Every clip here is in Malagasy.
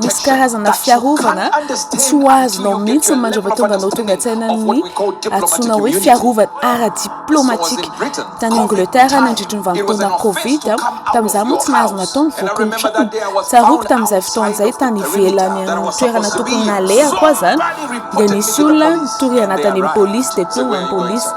Misy karazana fiarovana tsy ho azonao mihitsy ny mandrava tonga anao tonga an-tsaina ny antsoina hoe fiarovana ara-diplaomatika. Tany Angleterre nandritry ny vanim-potoana Covid, tamin'izaho moa tsy nahazo natao ny voky ny trano. Tsaroako tamin'izay fotoana izay tany ivelany amin'ny toerana tokony nalehako aza dia nisy olona nitoriana tany amin'ny polisy dia koa ny polisy.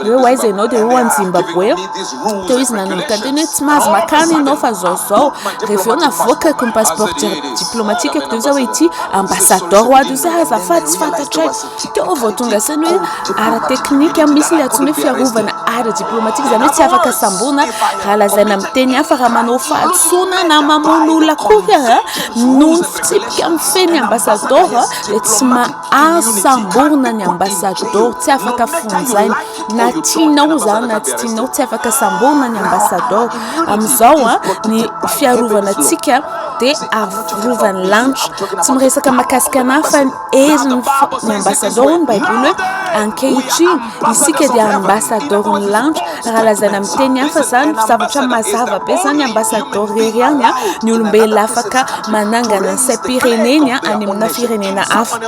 hoe ho aiza ianao dia hoe ho any Zimbaboe aho, teo izy nanomboka niteny hoe tsy mahazo makany ianao fa zao zao, rehefa avy eo navoakako ny passeport diplomatikako dia hoy za hoe ity ambassador ho ato za azafady tsy fantatray, teo aho vao tonga saina hoe ara teknika misy ilay antsoina hoe fiarovana ara diplomatika izany hoe tsy afaka samboina raha lazaina amin'ny teny hafa raha manao fahadisoana na mamono olona akory aho noho ny fitsipika mifehy ny ambassador dia tsy ma Azo samborina ny ambassador tsy afaka fonjaina na tianao zany na tsy tianao tsy afaka samborina ny ambassador amizao a ny fiarovana atsika de arovany lanitra tsy miresaka makasika anah fa ny herin'ny ny ambassador ny baiboly hoe ankehitriny Isika dia ambasadaoro ny lanitra raha lazaina amin'ny teny hafa izany zavatra mazava be izany ambasadaoro irery ihany ny olombelona afaka manangana ny saim-pireneny any amina firenena hafa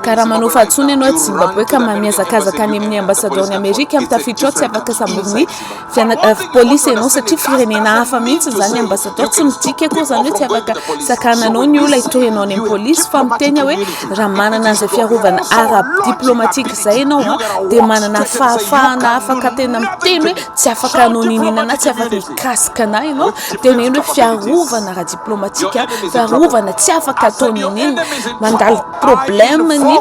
ka raha manao fahatsoana ianao aty Zimbabwe ka mamihazakazaka any amin'ny ambasadaoron'i Amerika tafiditra ao tsy afaka samboriny Fianakav police enao satria firenena hafa mihitsy izany ambassadeur tsy midika akory izany hoe tsy afaka sakananao ny olona hitory anao any amin'ny police fa miteny aho hoe raha manana an'izay fiarovana ara diplomatique izay ianao a dia manana fahafahana afaka tena miteny hoe tsy afaka anao niniana na tsy afaka mikasika anay ianao teneno hoe fiarovana ara diplomatique fiarovana tsy afaka ataony niniana mandalo problème-ny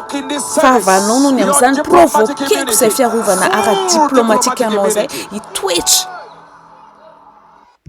fahavalonao noho ny amin'izany provoquer-ko izay fiarovana ara-diplaomatikanao izay hitoetra.